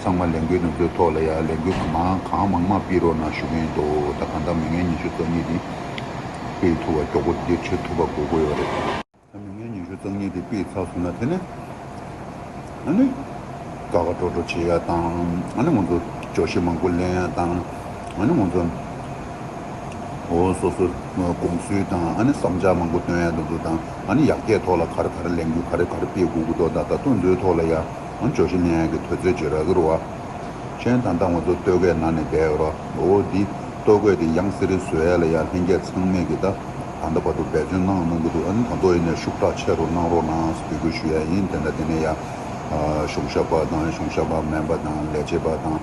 ཚང་མ་ལས་འགུལ་ནུབ་ཕྱོགས་ཐོག་ལ་ཡང་ལས་འགུལ་གང་མང་གང་མང་མང་སྤེལ་རོགས་གནང་ཞུ་གིན་ཡོད་འདུག་ད་གང་ལྟར་མི་ངན་ཉི་ཤུ་རྩ་གཉིས་དེ་སྤེལ་ཐུབ་བ་མགྱོགས་པོ་བདེ་ཆེ་ཐུབ་པ་དགོས་དགོས་ཡོད་རེད། ད་མི་ངན་ཉི་ཤུ་རྩ་གཉིས་དེ་སྤེལ་ཚར་སོང་ན་དེ་ནི་ཨ་ནི་དགའ་དགའ་སྤྲོ་སྤྲོ་བྱེད་ཡ་དང་ཨ་ནི་ང་ཚོ་ཅོག་ཤེས་མང་པོ་ལེན་ཡ་དང་ཨ་ནི་ང་ཚོ་འོ་སོ་སོ་དགོངས་ཚུལ་དང་ཨ་ནི་བསམ་འཆར་མང་པོ་བཏོན་ཡ་འདུག་དང་ཨ་ནི་ཡག་བརྒྱད་ཐོག་ལ་ག་རེ་ག་རེ་ལས་འགུལ་ག་རེ་ག་རེ་སྤེལ་དགོས་དགོས་དོ་ད་ལྟ་ལྟོ་འཛོལ་ཐོག་ལ་ཡང། ཧོན་ཇོ་ཤི་ནེ་ཡཱ་གི་དུས་ཚོད་ཀྱི་ར་གུར་བ། ཅན་དང་ཏང་བ་ཚོ་སྟོད་གོས་ནང་ནས་བསྡད་ཡོད་པ་མགོ་བོ་དེ་སྟོད་གོས་དེ་ཡང་སི་རི་སུའེ་ལ་ཡང་ལྷན་རྒྱས་ཚང་མས་གི་ད་ད་འདའ་བར་དུ་འབད་བརྩོན་གནང་གནང་གི་འདུག་ཨ་ནི་ད་དོ་ཡིན་ནས་ཤུགས་དྲག་ཆེ་རུ་གནང་རོགས་གནང་ཟེར་འབོད་སྐུལ་ཞུ་ཡ་ཡིན་དེ་འདྲ་དེ་ནས་ཡང་གཞུང་ཞབས་པ་དང་གཞུང་ཞབས་པ་མན་པ་དང་ལས་བྱེད་པ་དང་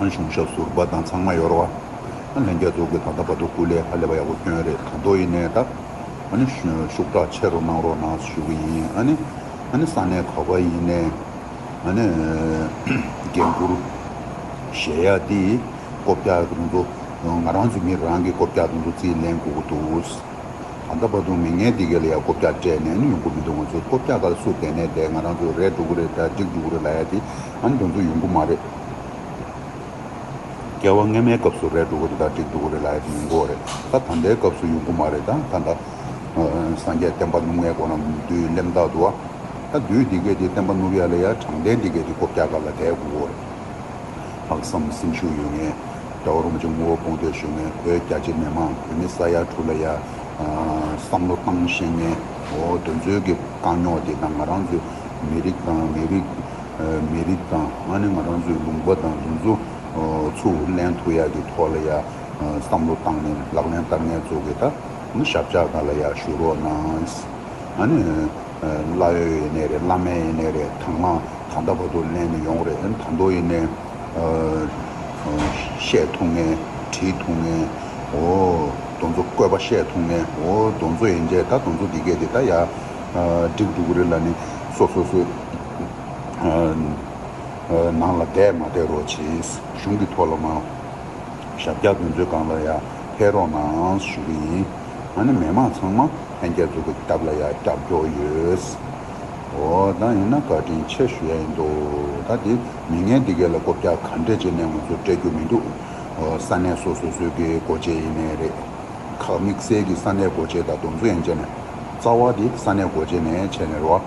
གཞུང་ཞབས་ཟུར་པ་དང་ཚང་མ་ཡོད་ར་བ་ལྷན་རྒྱས་འདུག་གི་ད་ད་བར་དུ་སྐུ་ལས་ཧ་ལས་པ་ཡག་པོ་བསྐྱོན་རེད་ད་དོ་ཡིན་ནས་ད། ཨ་ནི། ཤུགས་དྲག་ཆེ་རུ་གནང་རོགས་གནང་ཞུ་གི་ཡིན་ཨ་ནི། ཨ་ནི་ས་གནས་ག་པ་ཡིན་ནས་ཨ་ནི། རྒན་བཀུར། གཞས་ཡག་འདི། ཀོ་བརྒྱ་གདུང་འདུ། ང་རང་ཚོའི་མི་རང་གི་ཀོ་བརྒྱ་གདུང་འདུ་རྩིས་ལེན་དགོས་ཀྱི་འདུག། ད་ལྟ་བར་དུ་མི་ངན་འདི་ག་ལ་ཡང་ཀོ་བརྒྱ་སྤྲད་ནས་ཡོང་གི་མི་འདུག་ང་ཚོའི་ཀོ་བརྒྱ་ག་ལ་སུ་བསྡད་ནས་བསྡད་ང་རང་ཚོའི་རས་འགྲོ་གི་རེད་དཱ་འགྲིག་འགྲོ་གི་རེད་ལ་ཡ་དེ་ཨ་ནི་འགྲོ་འདུག་ཡོང་གི་མ་རེད། བ་སྔ་མའི་སྐབས་སུ་རས་དྲུག་གོ་དེ་དག་བྲིས་འདུག་གོ་རེད་ལ་ཡ་དེ་ཡོང་གོ་རེད་ད་ད་ལྟའི་སྐབས་སུ་ཡོང་གོ་མ་རེད་ད་ད་ལྟ་སངས་རྒྱས་བསྟན་པ་ནུབ་ངའི་སྒོ་ན་བདུད་གླེམ་བདག་དུ་བ་ད་བདུད་འདི་སྐད་དེ་བསྟན་པ་ནུབ་ཡ་ལ་ཡ་དྲང་བདེན་འདི་སྐད་དེ་སྒོ་བརྒྱག་ག་ལ་དད་གོ་གོ་རེད་ལྷག་བསམ་སེམས་ཤུགས་ཡོད་ངེས་དགྲ་བོ་རོང་ཆེན་ངོ་བོ་སྤོང་འདོད་ཤོད་ངེས་བོད་རྒྱ་ཆེ་མེད་མང་བོད་མི་ས་ཡ་དྲུག་ལ་ཡ་བསམ་བློ་བཏང་ཤེས་ངེས་འོ་དོན་ཚོད་ཀྱི་དཀའ་རྙོག་དེ་དང་ང་རང་ཚོའི་མི་རིགས་དང་མི་རིགས་མི་རིགས་དང་ང་ནི་ང་རང་ཚོའི་ལུང་པ་དང་རྒྱུན་འཛུགས་ཚུར་ལན་ཐུ་ཡག་གི་ཐོག་ལ་ཡང་བསམ་བློ་བཏང་ནས་ལག་ལེན་བསྟར་ངལ་རྩོལ་གི་ད་ནི་ཞབས་བཅག་ག་ལ་ཡག་ཞུ་རོགས་གནང། ང་ནི་བླ་ཡོལ་ཡེ་ནས་རེད་བླ་མེད་ཡེ་ནས་རེད་ད་ང་གང་ད་བ་དུ་ལན་ནི་ཡོང་རེད་ད་མདོ་ཡེ་ནས་བཤད་ཐུང་ངེ་བྲིས་ཐུང་ངེ་འོ་དོ་ཚོ་བཀོད་པ་བཤད་ཐུང་ངེ་འོ་དོ་ཚོ་ཡེ་འཇད་ད་དོ་ཚོ་འདི་སྐད་འདི་ད་ཡག་འགྲིག་འགྲུག་རེད་ལ་ནི་སོ་སོ་སོའི། ནང་ལ་བསྡད་མ་བསྡད་རོགས་བྱེད། གཞུང་གི་ཐོག་ལ་མ། ཞབས་བཀྱག་འདོན་ཚོད་སྒང་ལ་ཡ། ཕེབས་རོགས་གནང་ཞུ་གི་ཡིན། ང་ནི་མི་མང་ཚང་མ་ལྷན་རྒྱ་འཛུགས་ཀྱི་སྟབས་ལ་ཡ་བཀྱག་རྒྱོགས་ཡོད། འོ་ད་ཡིན་ན་བཀའ་དྲིན་ཆེ་ཞུ་ཡ་ཡིན་འདུག་ད་དེ་མི་ངན་འདི་གའི་ལ་བསྐོ་བཀྱག་ག་འདྲས་བྱས་ནས་ང་ཚོ་སྤྲད་རྒྱུ་མི་འདུག་ས་གནས་སོ་སོ་སོའི་གི་སྒོ་འབྱེད་ཡིན་ནས་རེད། ཁག་དམིགས་བསལ་གྱི་ས་གནས་སྒོ་འབྱེད་དང་སྡོམ་བཟོ་ཡན་ཆད་ནས་རྩ་བ་དེ་ས་གནས་སྒོ་འབྱེད་ནས་བྱས་ནས་རོགས།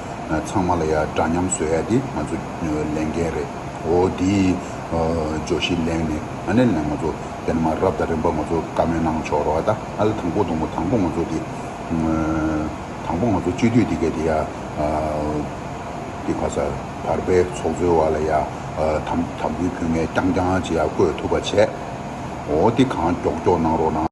ཚང་མ་ལ་ཡ་འདྲ་མཉམ་བཟོ་ཡ་དེ་ང་ཚོ་ལས་འགན་རེད་འོ་དེ་ཇོ་བཞི་གླེང་ནས་ཨ་ནེ་ལེན་ང་ཚོ་དེ་ནས་མ་རབ་དང་རིམ་པ་ང་ཚོ་བཀའ་མོལ་གནང་ཆོག་རོགས་ཨ་ད་ཨ་ལ་དང་པོ་དང་པོ་དང་པོ་ང་ཚོ་དེ་དང་པོ་ང་ཚོ་སྤྱི་འཐུས་དེ་ག་དེ་ཡ་དེ་ག་ས་བར་པའི་ཚོགས་གཙོའི་བ་ལ་ཡ་དམ་དམ་འབུལ་ཕུལ་ངས་རྐྱང་རྐྱང་བྱེད་ཡ་བསྐོས་ཐུབ་པ་བྱས་འོ་དེ་གང་མགྱོགས་མགྱོགས་གནང་རོགས་གནང།